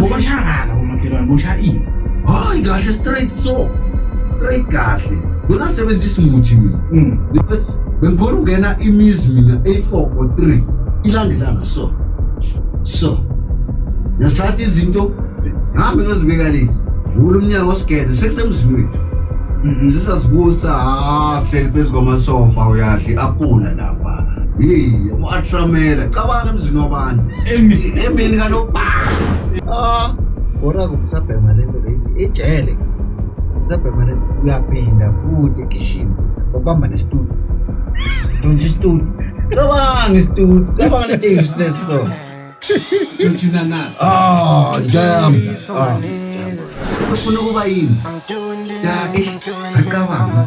Bobashakala bomakhelwane bosha ini. Hayi kahle straight so. Straight kahle. Ngona sebenzisa umuthi mina. Mm. Bengikhona ungena imizi mina A4 or 3 ilandelana so. So. Ngesathi izinto hambe ngozibeka le. Vula umnyango osigede sekusemzini wethu. Sisazibusa ha sihleli phezu kwamasofa uyadla iapula la. Hey, uAtramela, cabanga emzini wabantu. Emini, emini kaloku. Ah, ora kusabhema lento lethi ejele. Kusabhema lento uyaphinda futhi egishini. Babamba nestudio. Don't just do. Cabanga istudio, cabanga lento useless so. Tshintshina nasi. Ah, jam. Ah. Ufuna ukuba yini? Ya, eh, sacabanga.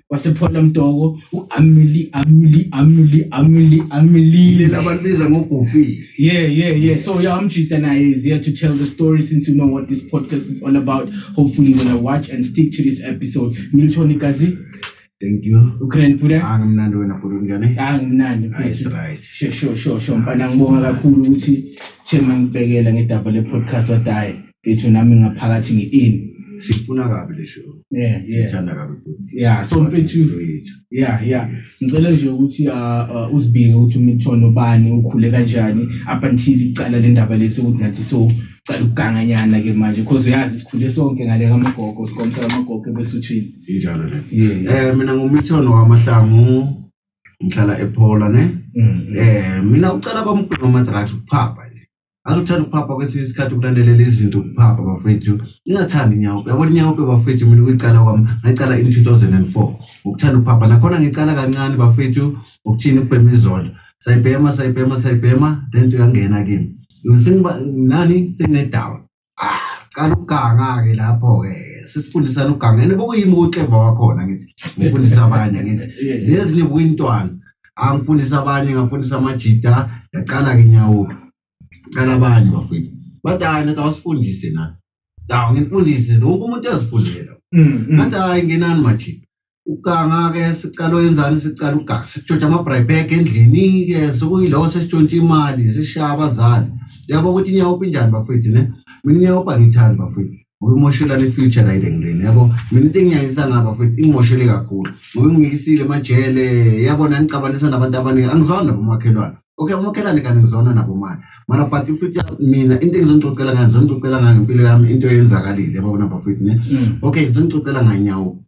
wasephola mtoko uamili amili amili amili amili lena abantu biza ngogofi yeah yeah yeah so yeah amjita naye is here to tell the story since you know what this podcast is all about hopefully you're gonna watch and stick to this episode milton kazi Thank you. Ukraine pura. Ah, nginandi wena pura njani? Ah, nginandi. Nice, right. Sure, sure, sure, sure. Mfana ngibonga kakhulu ukuthi Chema ngibhekela ngedaba le podcast wadayi. Ngithu nami ngaphakathi ngi-in. Sifuna kabi le show. Yeah, yeah. Sithanda kabi futhi. Yeah, so mfethu yethu. Yeah, yeah. Ngicela nje ukuthi uh, uh, uzibike ukuthi umthono bani ukhule kanjani up until icala le ndaba lesi ukuthi nathi so cala ukuganganyana ke manje because uyazi sikhule sonke ngale kamagogo sikomsa kamagogo ebesuthini. Injalo le. Yeah. Eh mina ngumthono wamahlangu ngihlala ePola ne. Mm, mm. Eh mina ucela kwamgqoma drugs ukuphapha nje. Ngaze uthanda ukuphapha kwesinye isikhathi ukulandelela izinto ukuphapha bafethu. Ngingathandi inyawo. Yabona inyawo bafethu mina ukuyicala kwami ngayicala in 2004. Ukuthanda ukuphapha nakhona ngicala kancane bafethu ukuthini ukubhema izolo. Sayibhema sayibhema sayibhema lento yangena kimi. Ngisingiba nani singedawa. ah cala ukuganga ke lapho ke sifundisa luganga ene bokuyimi uclever wakhona ngithi ngifundisa abanye ngithi lezi ni wintwana angifundisa abanye ngafundisa amajita yaqala ke nyawuka cala abanye bafiki bathi hayi nathi awasifundise na dawu ngifundise lokho umuntu ezifundela mm, mm. ngathi hayi ngenani majita Ukuganga ke siqala oyenzani siqala ukuganga sitshontsha ama-bribag endlini ke sekuyilowo sesitshontsha imali sishaya abazali yabo ukuthi inyawopha injani bafwethu ne mina inyawopha ngithani bafwethu ngoba imoshelana i-future la idengileni yabo mina into engiyayisa ngaba futhi ingimoshele kakhulu ngoba ingiyisile emajele yabona ngixabanisa nabantu abaningi angizwani nabo umakhelwane okay umakhelwane kanti ngizona nabo manje mara but futhi mina into engizonixoxela ngayo ngizonixoxela ngayo ngempilo yami into eyenzakalile yabona bafwethu ne okay ngizonixoxela nganyawo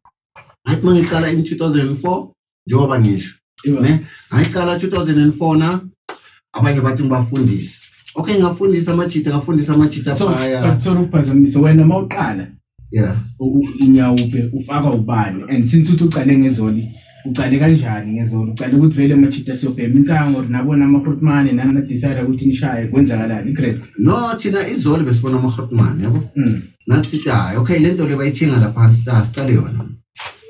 ngathi uma ngiqala in 2004 njengoba ngisho ne ngayiqala 2004 na abanye bathi ngibafundise okay ngafundisa amajita ngafundisa amajita phaya sorry ukuphazamisa wena uma uqala yeah inyawupe ufaka ubani and since uthi uqale ngezoni uqale kanjani ngezolo uqale ukuthi vele amajita siyobhema insango nabona amahrutmane nani nadicide ukuthi nishaye kwenzakalani igrade no thina izolo besibona amahrutmane yabo mm. ngathi ta okay lento le bayithinga lapha phansi ta sicale yona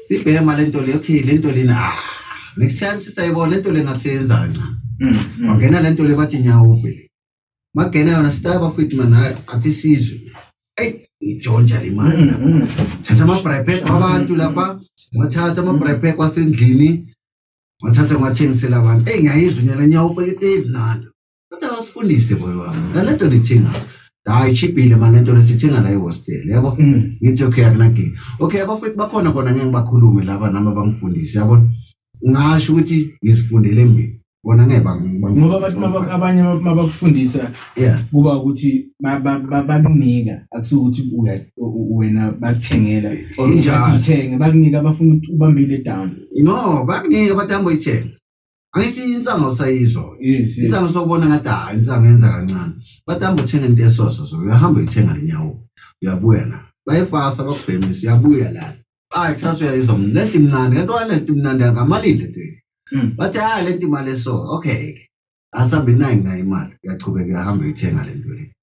sibhema lento le okay lento lena ah next time sisayibona lento le ngasenza kancane Mm, mm. wangena lento le bathi nyawo vele magena yona sita bafethu mana athi sizwe eyi ngijonja le mali Mm, lapha mm. thatha ama-bripek wabantu lapha wathatha ama-bripek wasendlini wathatha ngiwathengisela abantu eyi ngiyayizwa unyala nyawo eyi mnandi kodwa awusifundise boy wami ngale nto nithinga hayi chipile mani lento lesithinga la ihostel yabo Mm. ngithi okay akunankinga okay abafowethu bakhona kona ngeke ngibakhulume laba nami abangifundisi yabona ngasho ukuthi ngizifundele mina bona ngeke bang- ngoba bangifundise. abantu maba- abanye mabakufundisa yeah kuba ukuthi ba- ba- ba- bakunika akusuke ukuthi uya- u- u- wena bakuthengela or Injalo. ukuthi uthenge bakunika abafuna ukuthi ubambile down no bakuningi abantu hambe uyithenga angithi insanga usayizwa yes insanga sobona ngathi ha insanga yenza kancane but hamba uthenga into esoso so uyahamba uyithenga lenyawo uyabuya na bayifasa bakubhemisa uyabuya la hayi kusasa uyayizwa mna lento imnandi kanti walento imnandi angamalini lento Mm. bathi hayi lento imali eso okay asambe nayi nayo imali uyachubeka uyahamba uyithenga lento le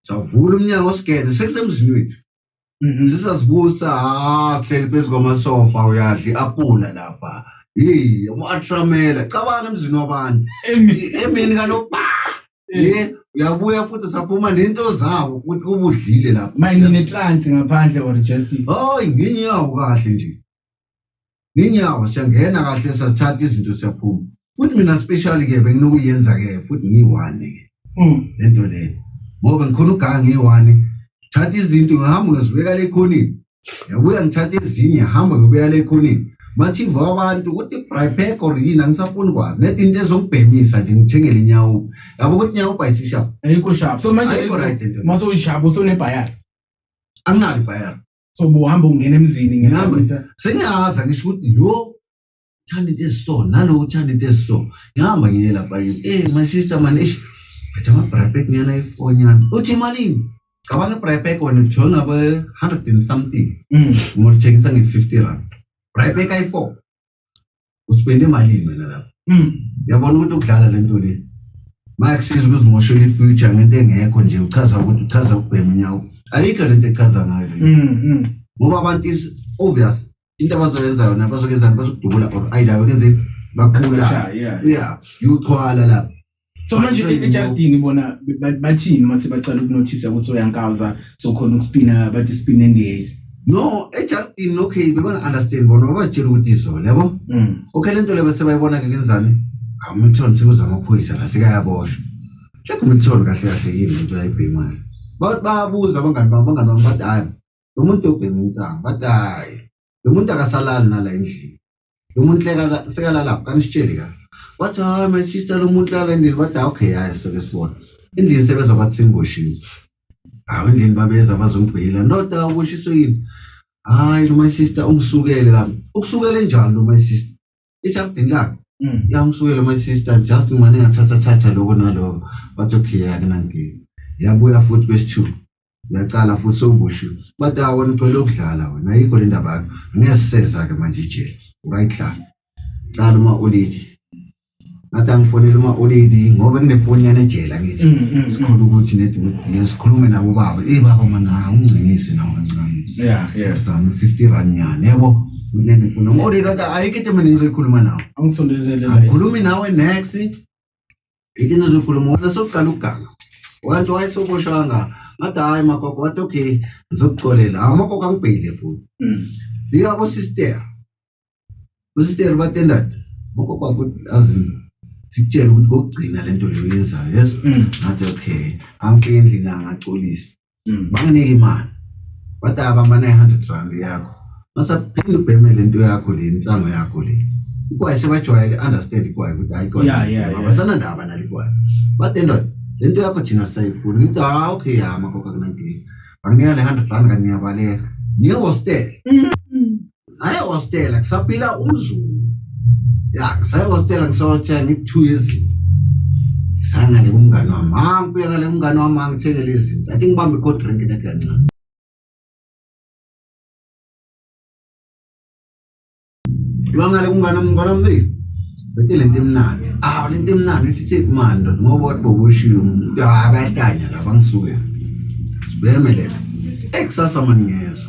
savula umnyango sigende sekusemzini wethu Mhm. sisazibusa ha sihleli phezu kwamasofa uyadla i-apula lapha yeyi umu-atramela cabanga emzini wabantu Emi- emini kanoba Eh, ye uyabuya futhi saphuma nento zawo ukuthi ubudlile lapha mayini netrance ngaphandle or just hayi ngenyawo kahle nje nginyawo siyangena kahle sathatha izinto siyaphuma futhi mina special ke benginokuyenza ke futhi ngiyiwani ke hmm. lento le ngoba ngikhona ugangi ngiyiwani thatha izinto ngihamba ngizibeka le khonini yabuya ngithatha ezinye hamba ngibeka le khonini mathiva abantu ukuthi bripek or yini angisafuni kwazi net into ezongibhemisa nje ngithengele inyawo yabo ukuthi inyawo bayisishapha ayikho shapha so manje ayikho right into masoyishapha usonebhayari anginalo ibhayari so buhamba ungena emzini ngihamba sengiyazi angisho ukuthi lo uthanda into esiso nalo uthanda into esiso ngihamba ngiye lapha yini eh my sister man ish phethe ama-bripek ngiyana ifoni yami uthi imalini cabanga i-bripek wena ujoy ngabe-hundred and something mm. ngolithengisa nge-fifty rand bripek ayi-four usipende malini wena lapho mm. yabona ukuthi ukudlala lento le mayakusiza ukuzimoshela ifuture ngento engekho nje uchaza ukuthi uchaza ukubhema unyawo ayikho lento echaza ngayo mm, mm. ngoba abantu is obvious into abazoyenza yona bazokenza bazokudubula or ayidaba kenzeni bakhula yeah uyochwala lapho so manje ejardini bona bathini uma sebacala ukunothisa ukuthi uyankawuza so khona ukuspina bathi spin endiyazi no ejardini okay bebanga-understand bona babatshela ukuthi izolo yabo mm. okay le nto le basebayibona-ke kenzani amilton sekuza amaphoyisa la sekayaboshwa check umilton kahle kahle yini le nto yayibhe imali babuza abangani bam abangani bam bathi hayi lo muntu obhema insango bathi hayi lo muntu akasalali nala endlini lo muntu sekalalapho kanisitsheli ka wathi hayi my sister lo muntu lala endlini wathi okay hayi soke sibona endlini sebeza bathi simboshiwe hawu endlini babeza bazombhila ndoda uboshiswe yini hayi lo my sister ungisukele la ukusukele njani lo my sister ejaridini lakhe Mm. yamsukela my sister just mane ngathatha thatha lokho naloko bathi okay yake nangike yabuya futhi kwesithuba yacala futhi sewuboshiwe bathi ah wena ucela ukudlala wena ayikho le ndaba yakho ngeke siseza-ke manje ijele right hlala cala uma ulidi ngathi angifonele uma-oledi ngoba kunefoni yanejela ngithi Mm, mm, mm. sikhole ukuthi nedi ngiye sikhulume nabo baba eyi baba mana ungingcinise nawo kancane Yeah, yeah. zami fifty rand nyani yabo nedi ngifuna uma-oledi wathi ayikho into mina ngizoyikhuluma nawe Angisondezelele la. angikhulumi nawe next into engizoyikhuluma wona sokuqala ukuganga wathi wayesoboshanga ngathi hhayi magogo wathi okay ngizokuxolela amagogo angibheyile futhi Mm. fika kosister Usiteri batendad moko kwakho azini sikutshela ukuthi kokugcina lento leyo yenzayo yes mm. ngathi okay angifike endlini angacolisa mm. banginike imali bathi abamba 900 rand yakho masaphinde ubheme lento yakho le insango yakho le ikwaye sebajwayele understand ikwaye ukuthi hayi kodwa abasana ndaba nalikwaye bathi ndoda lento yakho thina sayifuni ngithi ha okay hama kokakunankinga banginika le 100 rand kaniyabaleka ngiye hostel mm. Saya hostela, kusapila umzulu. Ya, saya hostela ngisothe ngithu izinto. Sana le umngane wami. Ah, ngifika le umngane wami angithengele izinto. I think bambe cold drink ne kancane. Lwanga le umngane umngane wami. Bete le nto imnandi. Ah, le nto imnandi uthi thi mani ndoda ngoba wathi bokushilo umuntu abatanya laba ngisuke. Sibeme lela. Ekusasa mani ngezwe.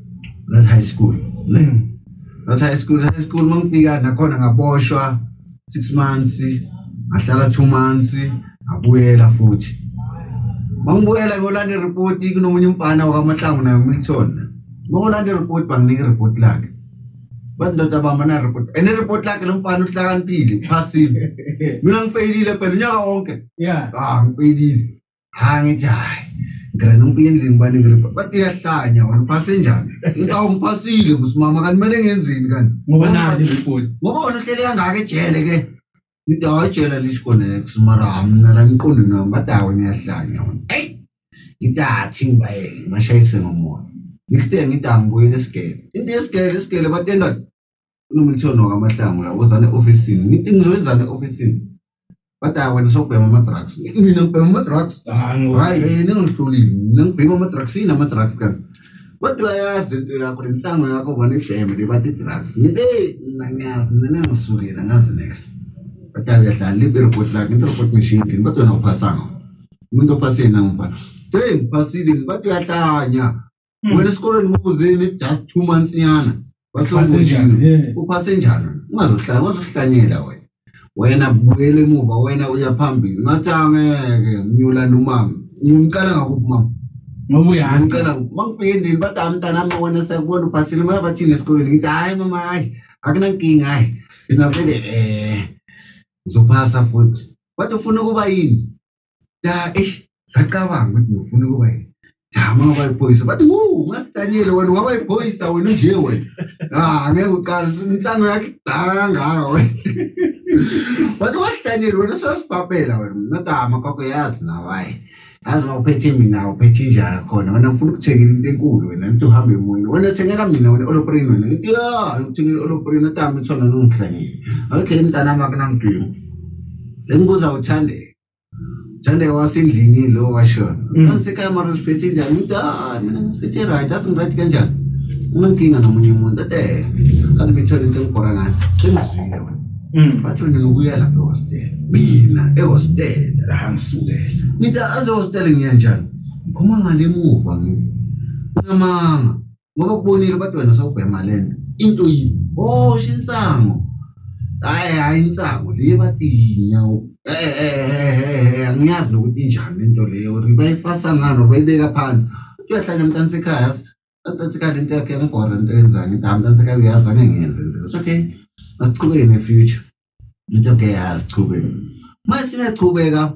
that's high school ne mm. that's high school high school mangifika nakhona ngaboshwa 6 months ngahlala 2 months ngabuyela futhi mangibuyela ngolanda report kunomunye umfana wakamahlangu naye umithona mangolanda report banginika report lakhe bathi ndoda bamba na report and report lakhe lomfana uhlakaniphile phasile mina ngifeyilile phela unyaka wonke yeah ah ngifeyilile hayi ngithi hayi ngirena ngifike endlini baningi ripa bathi uyahlanya wena uphase njani ngithi awu ngiphasile ngusimama kanti kumele ngenzeni kanti ngoba nani report ngoba wena uhlele kangaka ejele ke ngithi hayi ejele lisikonex mara mna la emqondweni wami bathi hayi wena uyahlanya wena eyi ngithi athi ngibayeke ngibashayise ngomoya next day ngithi angibuyele esigele into yesigele isigele batendani unomlithoni wakamahlangu la wenzani e-ofisini ngizoyenzani e-ofisini bathi hayi wena sokubhema ama-drugs nina ngibhema ama-drugs hayi yeye ningangihlolile nina ngibhema ama-drugs yini ama-drugs kanti kodwa uyayazi lento yakho le nsango yakho bona ibheme le bathi i-drugs ngithi eyi mna ngiyazi mina nangisukela ngazi next bathi hayi uyadlala libe ireport lakhe into report machine ndini bathi wena uphasanga umuntu ophaseni angimfana eyi ngiphasile bathi uyahlanya Hmm. Wena esikoleni ngokuzini just two months nyana. Wahlongoshini. Uphase njani? Ungazohlala, ungazohlanyela wena. Wena buyele emuva wena uya phambili. Ngathi angeke ngiyula nomama. Ngimcela ngakuphi mama? Ngoba uyazi. Ngicela mangifike endlini bathi hayi mntana wami wena sekubona uphasile mama bathini esikoleni. Ngithi hayi mama hayi akunankinga hayi. Ngavele eh ngizophasa futhi. Wathi ufuna ukuba yini? ja eish sacabanga ukuthi ngifuna ukuba yini jama ngoba iphoyisa bathi wu ungadaniyele wena ungaba iphoyisa wena unje wena ah ngeke uqala insango yakhe kudala kangaka wena bathi wadaniyele wena sosibhabhela wena mna tama kwakho yazi nawaye yazi uma uphethe mina uphethe inja yakhona wena ngifuna ukuthengela into enkulu wena ngithi uhambe emoyeni wena thengela mina wena oloprini wena ngithi ya ngikuthengela oloprini tama ithona nongihlangile okay mntanami akunangidingo sengibuza uthandeka Thande wasendlini lo washona. Mm. Kanti camera siphethe njani? Umuntu ah mina ngisiphethe right, athi ngirathi kanjani? Unenkinga nomunye umuntu athi eh. Kanti ngithole into engibhora ngayo. Sengizwile wena. Mm. Bathi wena ubuya lapha ehostel. Mina ehostel. Angisukela. Ngithi aze hostel ngiya njani? Ngiphuma ngale muva ngi. Unamanga. ngoba kubonile bathi wena sawubhema lento into yini oh shinsango hayi hayi insango le bathi inyawo eh eh angiyazi nokuthi injani into leyo ukuthi bayifasa ngani bayibeka phansi uyahlala emntana sekhaya mntana sekhaya lento yakhe yangibhora into yenzani into mntana sekhaya uyazi angengenzi into okay masichubeke ne future into okay yazi chubeke mase siyachubeka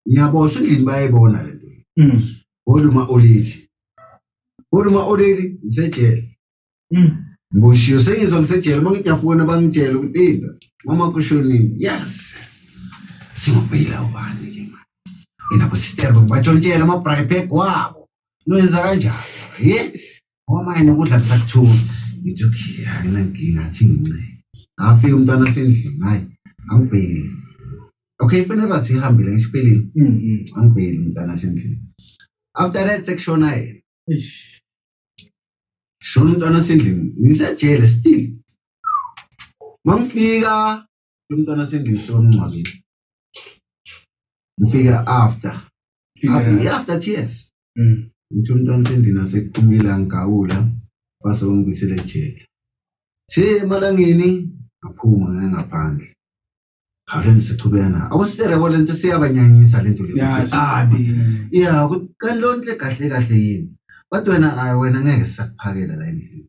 ngiyaboshwa endlini bayayibona le nto mm. kodwa uma olithi kodwa uma olithi ngisejele mm. ngiboshiwe sengizwa ngisejele uma ngithi yafona bangitshela ukuthi inda mama kushonini yes singobeyila ubani ke manje yena kusitshela ngibatshontshela ama-bribeck wabo noyenza kanjani ye Uma yena ukudla kusakuthula. Ngithi okay, anginankinga athi nginceke. Ngafika umntwana sendlini, hayi angibheki. Okay, fanele bathi ihambile ngisho iphelile. Mhm. Angibheki umntwana sendlini. After that sekushona yena. Eish. Shona umntwana sendlini. Ngisejele still. Mangifika umntwana sengilise bamngcwabile ngifika after ngifika after tears mm. ngithi umntwana sendina sekuphumile angigawula fase wangibisele ejele si emalangeni ngaphuma ngaye ngaphandle hawuleni sichubena awusirebho le nto siyabanyanyisa le nto leabi ya kanti loo nto le kahle kahle yini kodwa wena ayi wena ngeke sisakuphakela la endlini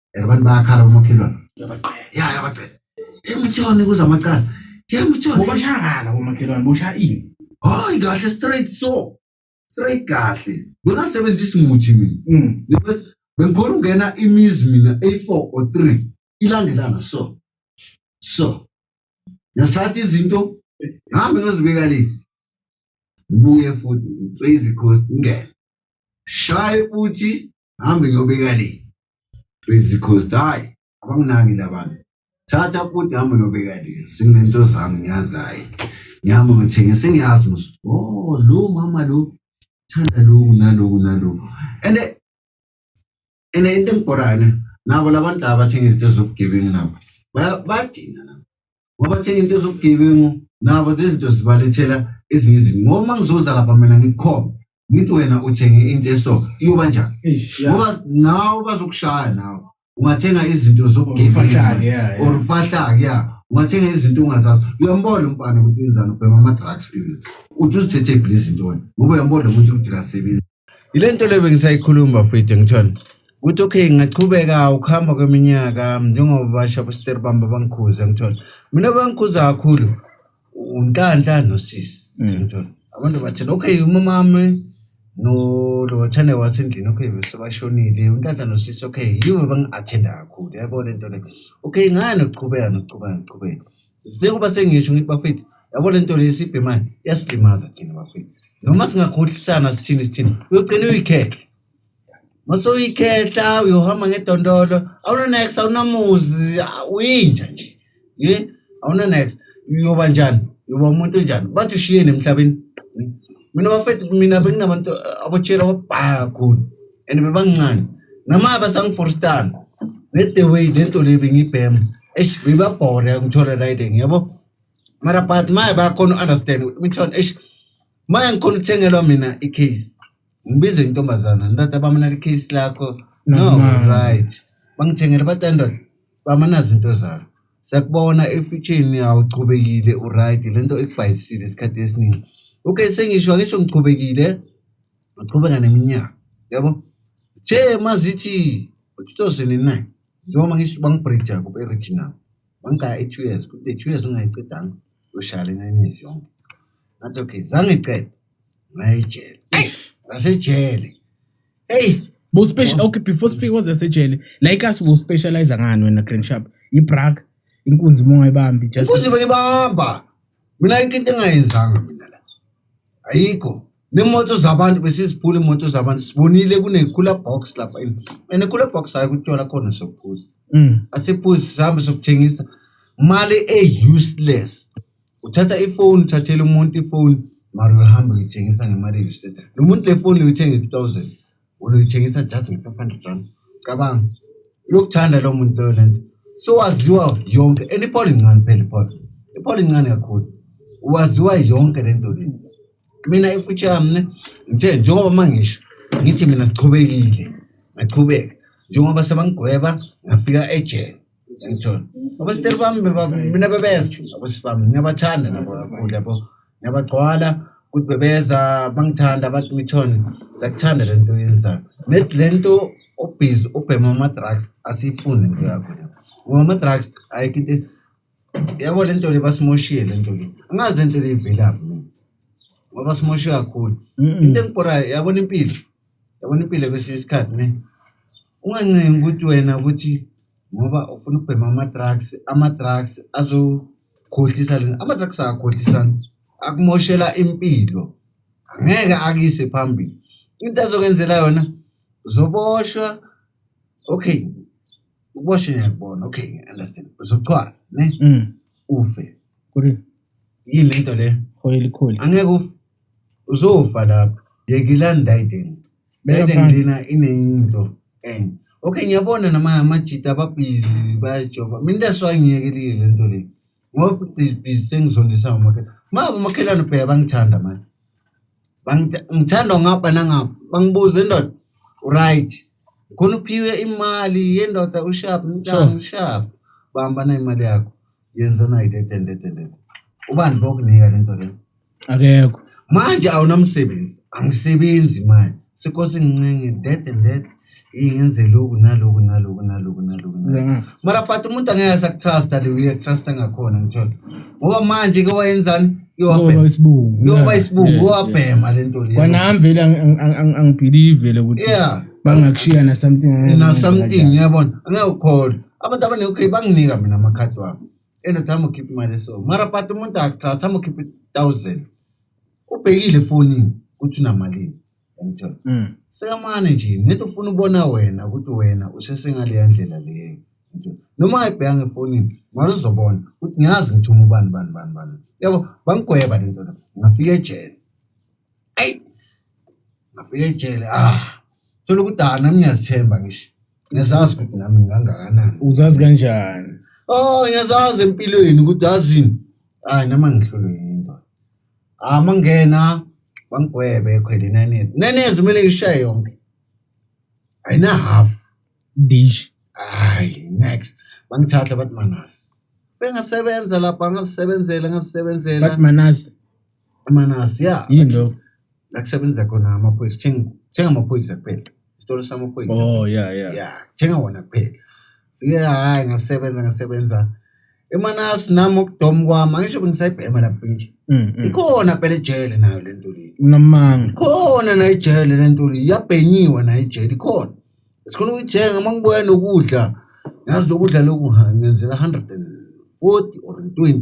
and abantu bayakhala bomakhelwane Uyabaqeda. ya yabacela emtshoni kuza amacala yemtshoni Bobashakala bomakhelwane bosha ini. hayi kahle straight so straight kahle bengasebenzisi muthi mina Mm. Because bengikhona ukungena imizi mina eyi-four or three ilandelana so so ngesithatha izinto ngihambe ngiyozibeka le ngibuye futhi ngitrace coast ngingene shaye futhi hambe ngiyobika le please because hayi abanginaki labantu thatha futhi hambe ngiyobika le sinento zami ngiyazi hayi ngihamba ngithenge sengiyazi mos oh lo mama lo thanda loku naloku naloku and and into engibhorayo ne nabo labantu laba bathenga izinto zobugebengu nabo bayadina nabo wabathenga into zobugebengu nabo lezinto zibalethela ezinye izinto ngoba uma ngizoza lapha mina ngikhona ngithi wena uthenge into eso iyoba njani ngoba nawe bazokushaya nawe ungathenga izinto zobugebengu or ufahlake ya ungathenga izinto ungazazi uyambona umfana ukuthi wenzani ubhema ama-drugs uthi uzithethephi lezi ntoni ngoba uyambona ukuthi ukuthi kasebenzi Yile nto leyo bengisayikhuluma futhi ngithona ukuthi okay ngingachubeka ukuhamba kweminyaka njengoba basha bositeri bami babangikhuza ngithona mina bangikhuza kakhulu unhlanhla nosisi mm. ngithona abantu bathina okay umama wami no lo wathane wasendlini okay bese bashonile unhlanhla nosisi okay yibo bangi-athenda kakhulu yabo le nto le okay ngani ukuchubeka nokuchubeka nokuchubeka Njengoba sengisho ngithi bafethu yabo le nto lesibhemayo yasilimaza thina bafethu noma singakhohlisana sithini sithini uyogcina uyikhehle mase uyikhehla uyohamba ngedondolo awunanex awunamuzi uyinja nje ye awunanex uyoba njani uyoba umuntu onjani bathi ushiyeni emhlabeni mina bafethu mina benginabantu eh, abotshela wabhaya kakhulu and bebancane nama basangiforstana ne-the way le nto le bengibhema eish bebabhore ngithole riding yabo mara but maye bayakhona u-understand mithon eish maye ngikhona ukuthengelwa mina i-case ngibize intombazana ndoda bamana le-case lakho no Namanga. right bangithengele bathi ndoda Mama nazi into zakho siyakubona efitsheni awuchubekile uright le nto ikubhayisile isikhathi esiningi okay sengisho angisho ngichubekile uchubeka neminyaka yabo the mazithi 2009 njengoba ngisho bangibridja ku-original bangigaya i-two years kude two years ungayicedanga ushaya le nine years yonke ngathi okay zangiqeda ngayijele ngasejele hey bo special okay before sifike kwaze sejele la ikas bo specialize ngani wena green sharp ibrak inkunzi munga ibambi just inkunzi bayibamba mina into engayenzanga mina la ayikho nemoto zabantu besiziphula imoto zabantu sibonile kunekula box lapha and ekula box hayi kutyola khona sokuphuza mm. asiphuzi sihambe sokuthengisa mali e-useless uthatha ifoni uthathela umuntu ifoni mara uyohamba uyithengisa ngemali eyi-state lo muntu le foni uyithenga i-two thousand wona uyithengisa just nge-five hundred rand cabanga uyokuthanda loo muntu loyo le nto so waziwa yonke and iphole incane phela iphole iphole incane kakhulu waziwa yonke le nto le mina ifuthi yami ne ngithe njengoba uma ngisho ngithi mina sichubekile ngaqhubeka njengoba sebangigweba ngafika ejele ngithola abasiteri bami mina bebeza abasisi bami ngiyabathanda nabo kakhulu yabo ngiyabagcwala ukuthi bebeza bangithanda abathi mithoni siyakuthanda le nto oyenzayo net le nto obhizi ubhema ama-drugs asiyifuni into yakho le ngoba ama-drugs ayikho into yabo le nto le basimoshile le nto le angazi le nto le ivelaphi mina ngoba simoshe kakhulu into engibhorayo yabona impilo Yabona impilo kwesinye isikhathi ne ungancengi ukuthi wena ukuthi ngoba ufuna ukubhema ama-drugs ama-drugs azokhohlisa lena ama-drugs akakhohlisani akumoshela impilo ngeke akuyise phambili into azokwenzela yona uzoboshwa okay uboshwe ngiyakubona okay understand uzochwala ne Mm. ufe Kuri. yini lento le Hoyeli kholi. angeke ufe uzofa lapho yekela ndayideni ndayideni lena inento and okay ngiyabona nama amajita ababhizi bayajova mina that's why ngiyekelile le nto le ngoba ibhizi sengizondisa umakhelwane ma umakhelwane ubheka bangithanda manje ngithanda ngapha nangapha bangibuza indoda right khona uphiwe imali yendoda ushap mntana ushap bahamba nayo imali yakho yenza nayo dedendedendede ubani bokunika le nto leyo akekho manje awunamsebenzi angisebenzi manje sekosi ngincenge that and that ingenze loku naloku naloku naloku naloku naloku. mara but umuntu angeke asakutrusta le uyakutrusta ngakhona ngithola ngoba manje ke wayenzani Ngoba iyowabhema isibungu iyoba isibungu iwabhema le nto leyo kwanami vele ang- ang- ang- ang- angibhilivele ukuthi yeah bangakushiya na something na something yabona angeke ukholwe abantu abanekho banginika mina amakhadi wami eno tshama ukhipha imali so mara but umuntu akuthatha tshama ukhipha i-thousand ubhekile efonini ukuthi unamalini yangithola Mm. sekamane nje nethi ufuna ubona wena ukuthi wena usesengaleya ndlela leyo Ngithola. noma ayibheka ngefonini mara uzobona ukuthi ngiyazi ngithuma ubani bani bani bani yabo bangigweba le nto le ngafika ejele ayi ngafika ejele ah thola ukuthi ah nami ngiyazithemba ngisho ngiyazazi ukuthi nami ngingangakanani uzazi kanjani oh ngiyazazi empilweni ukuthi azini hayi nama ngihlulwe yinto ah mangena bangigwebe ekhwele nenezi nenezi kumele ngishaye yonke ayina half dish hayi next bangithatha bathi manasi bengasebenza lapha ngasebenzela ngasebenzela bathi manasi Manasi ya. Yini lokho? La kusebenza khona amaphoyisa. Thenga thenga amaphoyisa kuphela. Isitolo samaphoyisa. Oh yeah yeah. Yeah, thenga wona kuphela. Fike hayi ngasebenza ngasebenza. EManasi nami ukudom kwami angisho bengisayibhema lapho nje. Mm. mm. Ikhona phela ejele nayo le nto le. Unamanga. Ikhona nayo ijele le nto le. Iyabhenyiwe nayo ijele ikhona. Sikhona ukuyithenga uma ngibuya nokudla. Ngazi lokudla lokhu ha, ngenzela 140 or 20.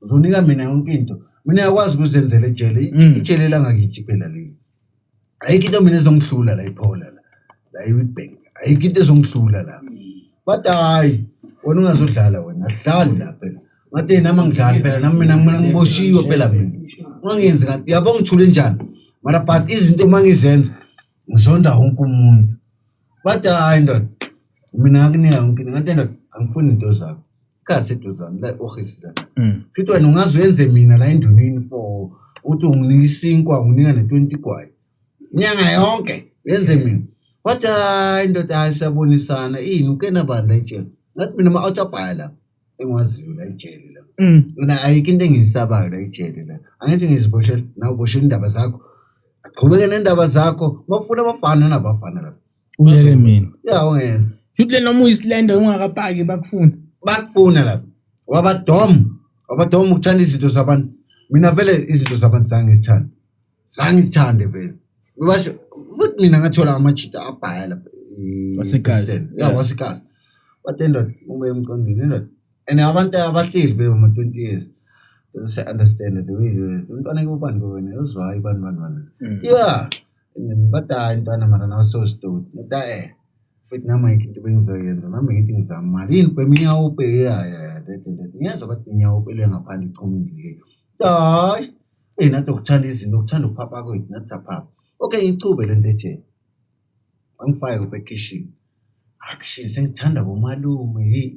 uzonika mina yonke into mina yakwazi ukuzenzela ejele mm. ijele langakithi phela leli ayikho into mina ezongihlula la iphola la la ibank ayikho into ezongihlula la bathi hayi wena ungazodlala wena ahlali la phela ngathi yena ama ngidlali phela nami mina mina ngiboshiwe phela mina ungangenzi ngathi yabo ngithule njani mara but izinto uma ngizenza ngizonda wonke umuntu bathi hayi ndoda mina ngakunika yonke into ngathi ndoda angifuni into zakho Kazi eduzane la ohisi la. Mm. Futhi wena ungaze uyenze mina la endunini for uthi unginika isinkwa unginika ne 20 kwaye. Nyanga yonke yenze mina. Wathi hayi ndoda hayi siyabonisana ini uke nabanda ejele. Ngathi mina ma out abhaya la engiwaziyo la ejele la. Mm. Mina ayikho into engiyisabayo la ejele la. Angithi ngiziboshela nawe boshela indaba zakho. Aqhubeke nendaba zakho. Mafuna abafana nabafana la. Uyeke mina. Ya ungeza. Futhi le noma uyislender ungakapaki bakufuna. Bakufuna lapho. Wabadom. Wabadom ukuthanda izinto zabantu. Mina vele izinto zabantu zange zithande. Zange zithande vele. Basho futhi mina ngathola amajita abhaya lapha. Wasekazi. Ya Yeah. wasikazi. But indoda uma emqondile indoda. And abantu abahleli vele uma 20 years. Doesn't understand the way you. Umntwana ke ubani ke wena uzwayo bani bani bani. Yeah. Ngimbada intwana mara nawe sewusidoti. Ngita eh. Futhi nami ayikho into bengizoyenza. Nami ngithi ngizama imali. Yini ubhema inyawupe? Ya ya ya. Dede dede. Ngiyezwa bathi inyawupe le ngaphandle ichumile. Hayi. Eyi nathi okuthanda izinto, okuthanda ukuphapha kwethu nathi saphapha. Okay ngichube le nto ejele. Wangifake ubhekishini. Action sengithanda bomalume. Hey.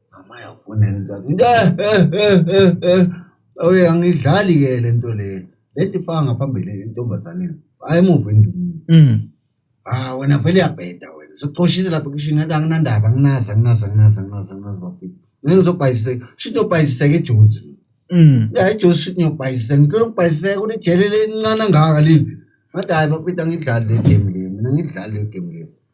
Mama yafuna into ngithi eh eh eh eh, eh. Oye angidlali ke le nto le. Le nto ifaka ngaphambili entombazaneni. Hayi emuva endumile. Mm. Ah wena vele uyabheda wena. Socoshise lapha kishini ngathi anginandaba anginazi anginazi anginazi anginazi anginazi bafika. Ngeke ngizobhayiseka. Shit nobhayiseka ejuzi. Mm. Ya ejuzi shit ngiyobhayiseka. Ngicela ukubhayiseka kunejele elincane ngaka leli. Ngathi hayi bafita ngidlali le game le. Mina ngidlali le game le.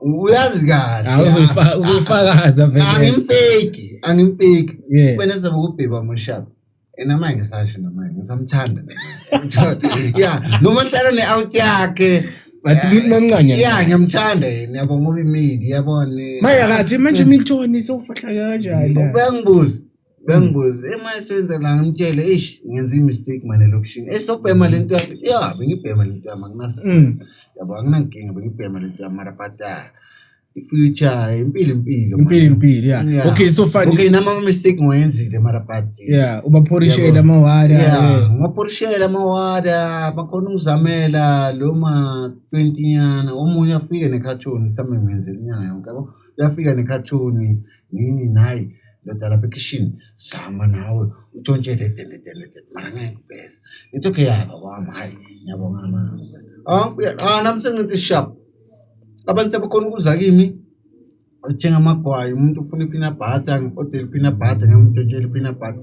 uyazi kahle Ah, uzoyifa- uzoyifakaza vele angimfeki angimfeki Yeah. kufanele sizobe kubhekwa mushaba ena manje ngisasho namanje ngisamthanda ya noma hlala ne-out yakhe But umuntu mamncane. ya ngiyamthanda yena yabo ngoba imidi yabone manje akathi manje imiltoni sofahla kanjani ubengibuza bengibuze ema esebenza la ngimtshele eish ngenza imistake manje lokishini esobhema mm. lento yakhe ya bengibhema lento yami anginasa mm. yabo anginankinga bengibhema lento yami mara but ah, future impilo impilo impilo impilo yeah okay so far okay nama mistake ngoyenzile mara but yeah ubaphorishela amawada yeah ngophorishela amawada bakhona ukuzamela lo ma 20 nyana omunye afike ne cartoon mhlambe ngenzela inyanga yonke yabo uyafika ne cartoon nini nayi ndoda lapha ekhishini zama nawe utshontshe le dende dende dende mara ngeke ngiveze ngithi okay yaba kwami hhayi ngiyabonga mara ngeke ngiveze ah mfuya ah nami sengithi sharp abantu sebekhona ukuza kimi othenga amagwayi umuntu ufuna iphina bhata ngi-odele iphina bhata ngiyamuntshontshe iphina bhata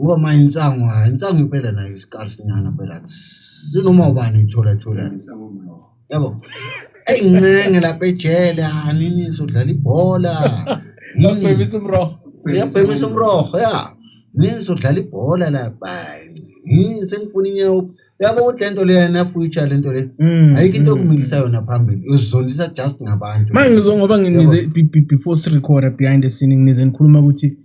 Ngoma insango, hayi insango impela nayo isikars nyana phela. Sinoma ubani ithola ithola. Yabo. Ey ncenge lapha ejele, ah nini sodlala ibhola. Yini? Babhemisa umroho. Uyabhemisa umroho ya. Nini sodlala ibhola lapha. Yini sengifuna inyawo. Yabo ukuthi lento leya na future lento le. Mm, Ayikho into okumikisa yona phambili. Uzondisa just ngabantu. Manje ngizwa ngoba nginize be- be- before sirecorda behind the scene nginize nikhuluma ukuthi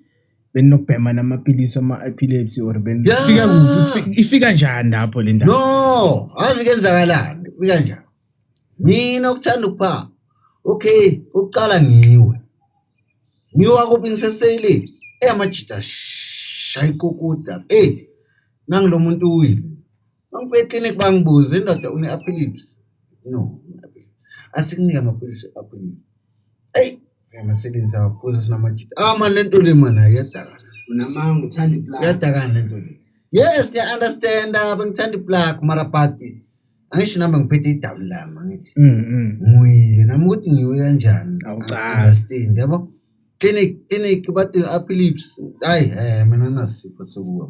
beninokubhema namapilisi ama-epilepsy or beni Yeah. Ifika kuphi? Ifi- Ifika njani lapho le ndaba? no azi kenzakalani fika njani mina ukuthanda ukuphanga okay ukuqala ngiwe ngiwa kuphi ngiseseyile eyamajita shayikokuda ey nangilomuntu uwile Mangifika eclinic bangibuze indoda une epilepsy. No. Asikunike amaphilisi epilepsy. Ey, ngiyamasebenzisa kakhulu sinamajita. Ah man lento le man ayadaka. Unamanga uthanda iplug. Yadaka lento le. Yes, ngiya understand bengithanda iplug mara party. angisho nami ngiphethe idawu lami angithi mm, mm. ngiyile nami ukuthi ngiwe kanjani understand yabo clinic clinic bathi aphi lips hayi eh mina nasifo sokuwa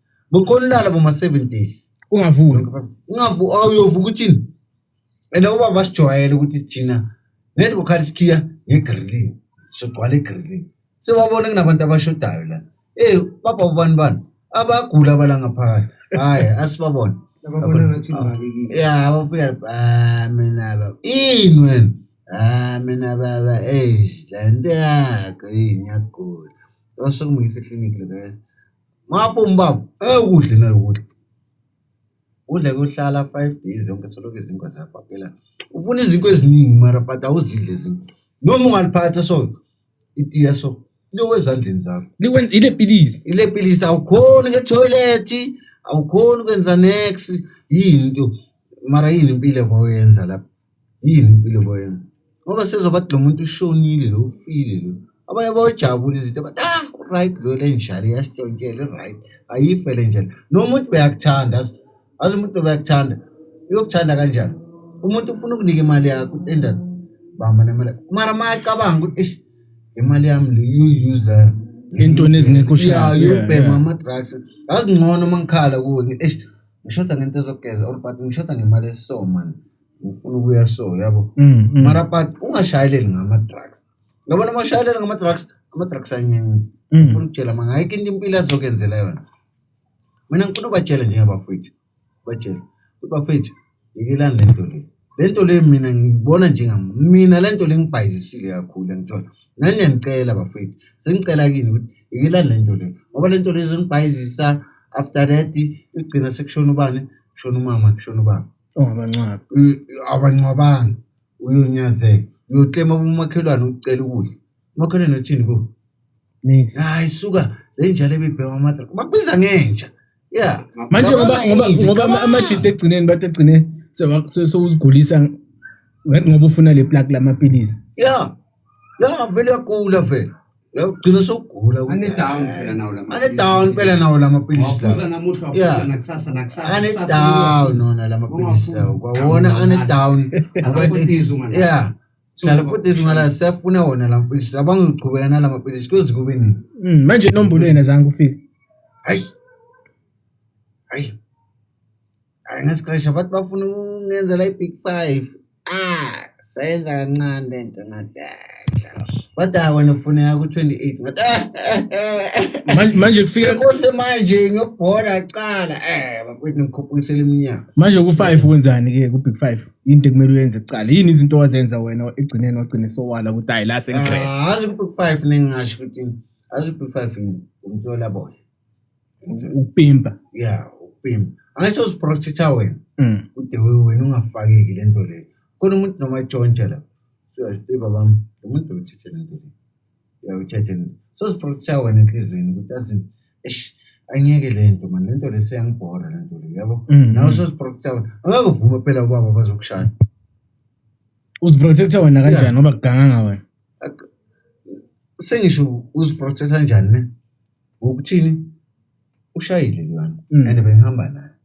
Bukhona ulala boma 7 days. Ungavuki. Ungavu awuyovuka uthini? And uba basijwayele ukuthi thina nethi kokhala isikhiya ngegrilling. Sogcwala igrilling. Sewabona kunabantu abashodayo la. Eh baba ubani bani? Abagula bala ngaphakathi. Hayi asibabona. Sababona ngathi ngibakekile. Yeah, abafika ah mina baba. Ini wena? Ah mina baba eh lento yakho yini yagula. Osho kumisa eclinic lo guys. Maboom baba. Eh ukudla nalokudla. Udla kuhlala 5 days yonke soloko izinkwa ziyabhakela. Ufuna izinkwa eziningi mara but awuzidle izinkwa. Noma ungaliphatha so itiya so liwe ezandleni zakho. Liwen ile pilisi. Ile pilisi awukhoni ke toilet, awukhoni kwenza next yini into. Mara yini impilo oyenza lapha? Yini impilo boyena? Ngoba sezwa bathi lo muntu ushonile lo ufile lo. Abanye bayojabula izinto bathi ah right lo le njalo iyasitshontshelwa right ayife le njalo. Noma uthi uyakuthanda azi azi umuntu uyakuthanda uyokuthanda kanjani? Umuntu ufuna ukunika imali yakho utenda bamba nemali. Mara mayacabanga ukuthi eish imali yami le uyuza Entweni ezingekho sharp, Yeah, yeah, uyobhema yeah. ama drugs. Azi ngcono mangikhala kuwe ngithi eish ngishoda ngento ezokugeza or but ngishoda ngemali esisoma. ngifuna ukuya so yabo mm, mm. mara but ungashayeleli ngama-drugs ngabona uma ushayeleli ngama-drugs ama-drugs aninzi mm. ngifuna ukutshela ma ngayikho into impilo azokenzela yona mina ngifuna ubatshele njengabafowethu batshele ukuthi bafowethu yekelani le nto le le nto le mina ngibona njengam mina le nto le ngibhayizisile kakhulu angithola nani niyanicela bafowethu sengicela kini ukuthi yekelani le nto le ngoba le nto le izonibhayizisa after that igcina sekushona ubani kushona umama kushona ubaba Ongabangcwabi. Abangcwabanga uyonyazeka. Uyoklema kumakhelwane ukucela ukudla. Umakhelwane uthini ku? Nix. Hayi suka le njalo ebibhema amatra. Bakubiza ngenja. Yeah. Manje ngoba Cabanga ngoba ngenja, ngoba ama- cabanga. amajita egcineni bathi egcine sewuzigulisa ngoba ufuna le plug lamapilisi. Yeah. Ya vele yagula vele. Uyagcina sokugula. Ane down phela nawo la maphilisi. Ane down phela nawo la maphilisi la. Waphuza namuhla waphuza nakusasa nakusasa. Ane down nona la maphilisi la. Kwawona ane down. Akwatizo ngala. Yeah. Sala futhi izingala siyafuna wona la maphilisi. Abangiqhubeka nala maphilisi kuze kube nini? Mm, manje inombolo yena zange ufike. Hayi. Hayi. Hayi ngesikresha bathi bafuna ukungenzela i-big five. Ah, sayenza kancane le nto ngadadla. Kodwa hayi wena ufuneka ku-28 ngathi eh, eh, eh, eh. Manje- manje kufika Sekose manje ngiyobhola cala. Eh, bakwethu ngikhuphukisela iminyaka. manje ku-five wenzani ke ku-big five yinto ekumele uyenze kuqala yini izinto owazenza wena ekugcineni wagcine sowala ukuthi hayi la sengiqeda Ah, azi ku-big five nengingasho ukuthi azi ku-big five umthola boya. ukupimpa yeah ukupimpa angisho uziprotecta wena mm. kude wena ungafakeki le nto leyo khona umuntu noma etshontsha la siyazite babam lo muntu uthethe le nto leyo uyawuthethe so uziprotecta wena enhliziyweni ukuthi azi eish angeke le nto mani le nto le seyangibhora le nto le yabo mm. nawe soziprotecta wena angeke uvume phela ubaba bazokushaya uziprotecta wena kanjani ngoba kuganganga wena sengisho uziprothetha njani ne ngokuthini ushayile lwana mm. and bengihamba naye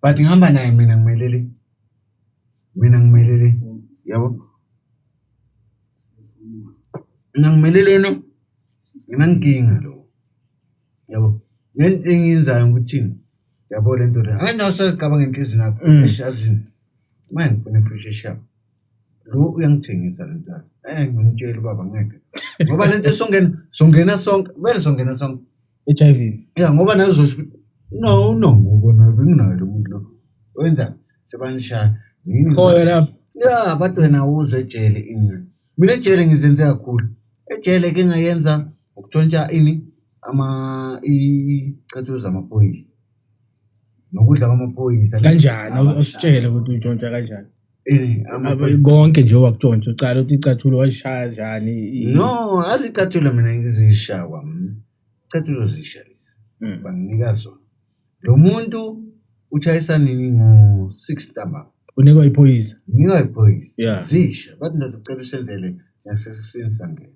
but ngihamba naye mina ngimelele mina ngimelele yabo mina ngimelelene mina nginkinga lo yabo lento engiyenzayo ukuthi yabo le nto le hayi nawe sazicabanga enhliziyweni yakho mm. eshazini uma ngifuna ifushi eshaba lo uyangithengisa le nto yakho eh ngimtshela ubaba ngeke ngoba le nto esongena songena sonke vele songena sonke h i v ya ngoba naye uzosho ukuthi no no ngoba naye benginayo lo muntu lo wenzani sebanishaya nini khoyo lapho ya abantu wena uze ejele ingane mina ejele ngizenze kakhulu ejele ke ngayenza Ukutshontsha ini ama icathulo zamaphoyisa nokudla kwamaphoyisa kanjani usitshele ukuthi utshontsha kanjani konke nje wakutshontsha ucala ukuthi icathulo walishaya njani no azicathulo mina ngizishaya kwami icathulo zisha lezi hmm. banginika zona lo muntu utshayisa nini ngo-six ntambama unikwa iphoyisa unikwa iphoyisa zisha bathi ndoda ucela usenzele nyasekuseni sangena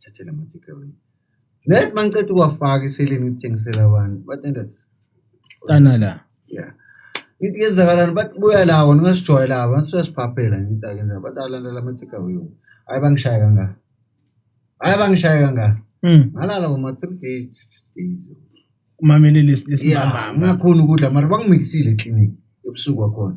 thathe la ma-takeaway then uma ngiceda ukuwafaka iseleni ngithengisela abantu bathi ndoda tana la ya ngithi kenzakalani bathi buya lawo ningasijwayela abo ngathi uyasiphaphela ngithi akenzela bathi alandela ama-takeaway hayi bangishaye kangaka hayi bangishaye kangaka Mm. ngalala ngoma three days two days Umamele lesi ya lesibamba. ngakhona ukudla mara bangimikisile eklinikhi ebusuku kwakhona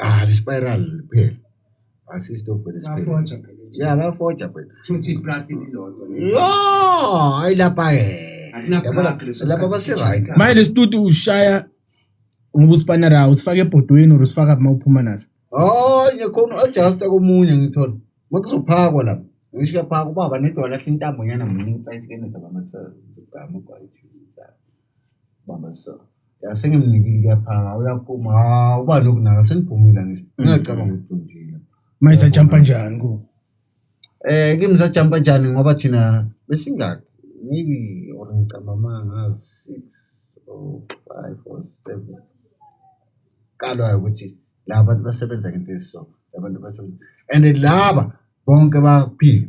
Ah, the spiral phela. Asistofela isiphela. Bafoja phela nje. Yeah, bafoja phela. Futhi iplati lilodwa. Yo, ayilapha eh. Akuna Yabona, plug leso Lapha sikhathi base right. sijika. manje lesituti ushaya ngoba usipanera usifaka ebhodweni or usifaka uma uphuma naso Oh, ngikhona adjust komunye ngithola. Makuzophakwa lapha. Ngisho kuyaphakwa ubaba nedwa lahle intambo nyana mningi phakathi kenoda bamasa. Ngigama kwayithi. Bamasa. Sengimnikile kuyaphanga uyaphuma hawu uba nokunaka seniphumile ngisho mm. ngingacabanga ukuthi ujondile. Mayisa jumpa njani ku? Eh kimi sajumpa njani ngoba thina besingaki maybe or ngicabanga mangazi 6 or 5 or 7 kalwa ukuthi laba bantu basebenza ngento eziso abantu basebenza and laba bonke baphila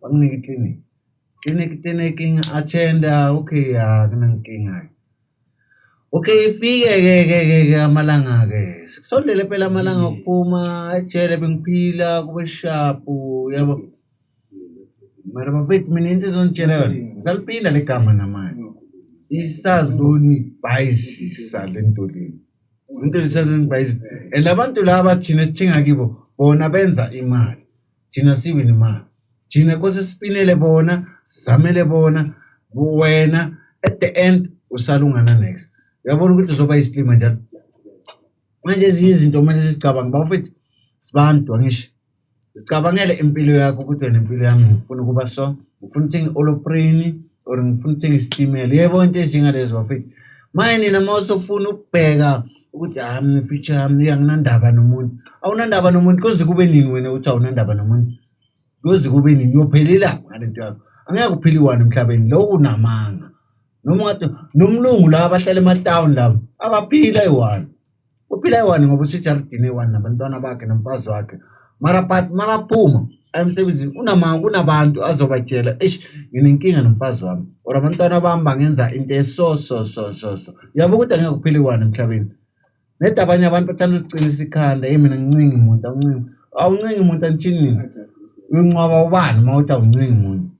Banginika i-clinic. Clinic clinic ngi-attenda okay ya kunankinga-ke. Okay ifike-ke ke ke ke amalanga-ke sekusondele phela amalanga okuphuma ejele bengiphila kube shapu yabo. Mara bafethu mina into ezongitshela yona ngisaliphinda le gama namanje. Isazonibhayizisa le nto le. Into isazonibhayizisa and abantu laba thina esithenga kibo bona benza imali. thina sibi nemali thina kose sipinele bona sizamele bona wena at the end usalungana next uyabona ukuthi uzoba isilima njalo manje ezinye izinto kumele sizicabanga bafethu sibantu angisho zicabangele impilo yakho ukuthi wena impilo yami ngifuna ukuba so ngifuna uthenga i-oloprini or ngifuna uthenga isitimela yebo into ezinjengalezo bafethu manje nina uma usofuna ukubheka ukuthi hayi mina future yami anginandaba nomuntu awunandaba nomuntu koze kube nini wena ukuthi awunandaba nomuntu koze kube nini uyophelela ngale nto yakho angeke uphile iwani emhlabeni lowo unamanga noma ungathi nomlungu la abahlala ematawuni labo abaphila eyi-one uphila eyi-one ngoba usejaridini eyi-one nabantwana bakhe nomfazi wakhe mara but makaphuma emsebenzini unama kunabantu azobatshela eish nginenkinga nomfazi wami or abantwana bami bangenza into eso so so so so yabo ukuthi angeke kuphile kwani emhlabeni nedi abanye abantu bathanda ukuqinisa ikhanda hey mina ngincingi muntu awuncingi awuncingi muntu anithini nina uyinqwaba ubani uma uthi awuncingi muntu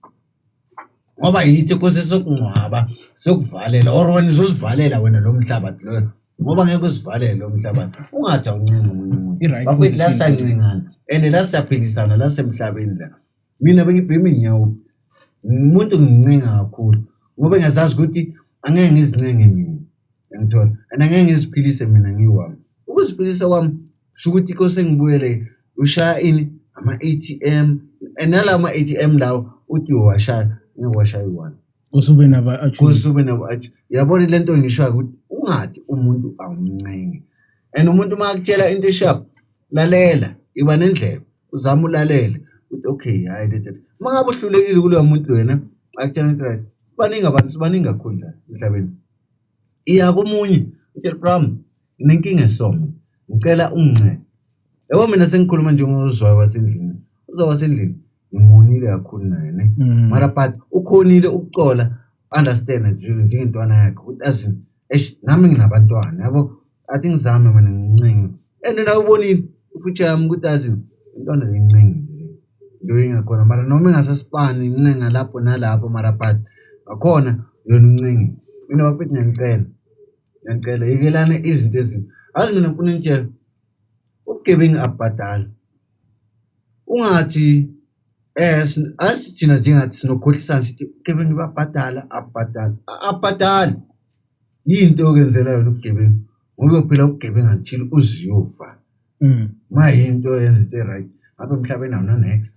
ngoba yithi kose sokungcwaba sokuvalela or wena uzozivalela wena lo mhlabathi loyo ngoba ngeke uzivalele lo mhlabathi ungathi awuncenga omunye umuntu I-right bafethu la position. siyancengana and la siyaphilisana la semhlabeni la mina bengibhema inyawo umuntu ngincenga kakhulu ngoba ngiyazazi ukuthi angeke ngizincenga mina Yangithola? And angeke ngiziphilise mina ngiwami. Ukuziphilisa kwami sho ukuthi inkosi engibuyele ushaya ini ama-ATM and nalawo ma-ATM lawo uthi washaya ngeke washaya iwani. Kusube naba kusube naba yabona le nto ngishoyo ukuthi ungathi umuntu awumncenge. And umuntu uma akutshela into esharp lalela iba nendlebe uzama ulalele uthi okay hayi le tata uma ngabe uhlulekile kuloya muntu wena akutshela ukuthi right baningi abantu sibaningi kakhulu la emhlabeni iya komunye utshela bram nginenkinga esomo ngicela ungincede yabo mina sengikhuluma njengozwayo wasendlini uzwayo wasendlini ngimonile kakhulu naye ne mm. mara but ukhonile ukucola understand njengentwana yakhe ukuthi as in eish nami nginabantwana yabo athi ngizame mina ngincinge and na ubonile ufuthi yami ukuthi azi intwana lencinge le yoyingakhona mara noma ingasesipani incenga lapho nalapho mara but akhona yona uncinge mina bafethu ngiyanicela ngiyanicela yekelana izinto ezinto azi mina ngifuna nitshela ubugebengu abhadala ungathi eh asithina njengathi sinokhohlisana sithi ubugebengu babhadala abhadala abhadali Yini into yokwenzela yona ubugebengu ngoba uyophila ubugebengu until uziyofa mm. ma yinto yenza into e-right apha emhlabeni awunanext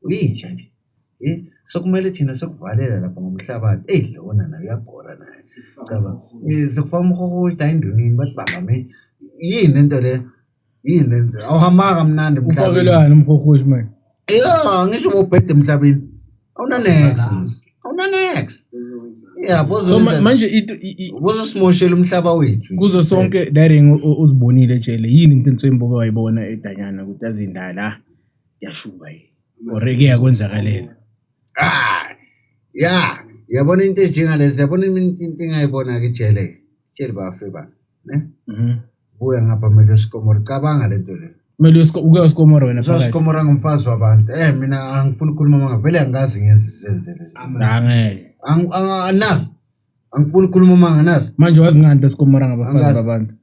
uyinja nje Eh, sokumele thina sokuvalela lapha ngomhlabathi eyi lona nayo uyabhora naye caba eh, sokufaka umhohoshi ayindunini bathi bangame yini into le yini le ndlela awuhambanga kamnandi emhlabeni ufakelwani umhohoshi manje ya ngisho ubhede emhlabeni awunanex awunanex yabo so ma- manje into i- i- bozosimoshela umhlaba wethu kuzo sonke daring u- u- uzibonile ejele yini into entswembuke wayibona edanyana ukuthi azindala yashuba yini oreke yakwenzakalela Ah, ya yabona into enjengalezi yabona into into engayibona ke jele jele bafe ba ne Mhm. Buya ngapha Melo Sikomoro. Cabanga le nto le. Kumele uyosko- uke uyoSikomoro wena phakathi. Sosikomora ngumfazi wabantu. Eh mina angifuni ukukhuluma manga vele angazi ngenze izenze lezi. Cha, ngeke. Ang ang- anazi. Angifuni ukukhuluma manga nazi. Manje wazi ngani beSikomoro ngabafazi Angazi. babantu.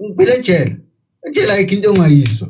Ngiphile ejele. Ejele ayikho into ongayizwa.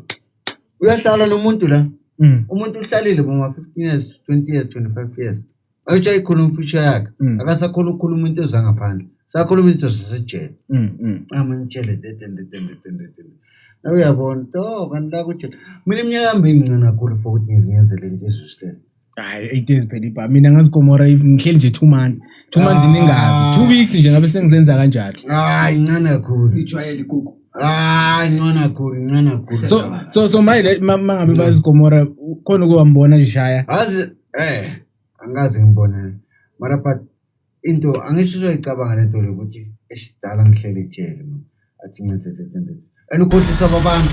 Uyahlala nomuntu la. Mm. Umuntu uhlalile boma 15 years, 20 years, 25 years. ayishaye khona umfisha yakhe mm. akasakhona ukukhuluma into ezangaphandle sakhuluma into zasejele mm, mm. amangitshele dedendedendedendedende nawe uyabona to kanti la kutshela mina iminyaka yami bengincane kakhulu for ukuthi ngizingenzele into ezusilele hayi eight days phela ibha mina ngazikomora ngihleli nje two months two months ah. iningabi two weeks nje ngabe sengizenza kanjalo hayi incane kakhulu ijwayele ikuku hayi incane kakhulu incane kakhulu so so so mayile mangabe bazikomora khona ukuba mbona lishaya azi Eh, angikaze ngibone. Mara but into angisho uzoyicabanga lento le ukuthi esidala ngihlele ejele mina. Athi ngenze that and that. And ukhohlisa abantu.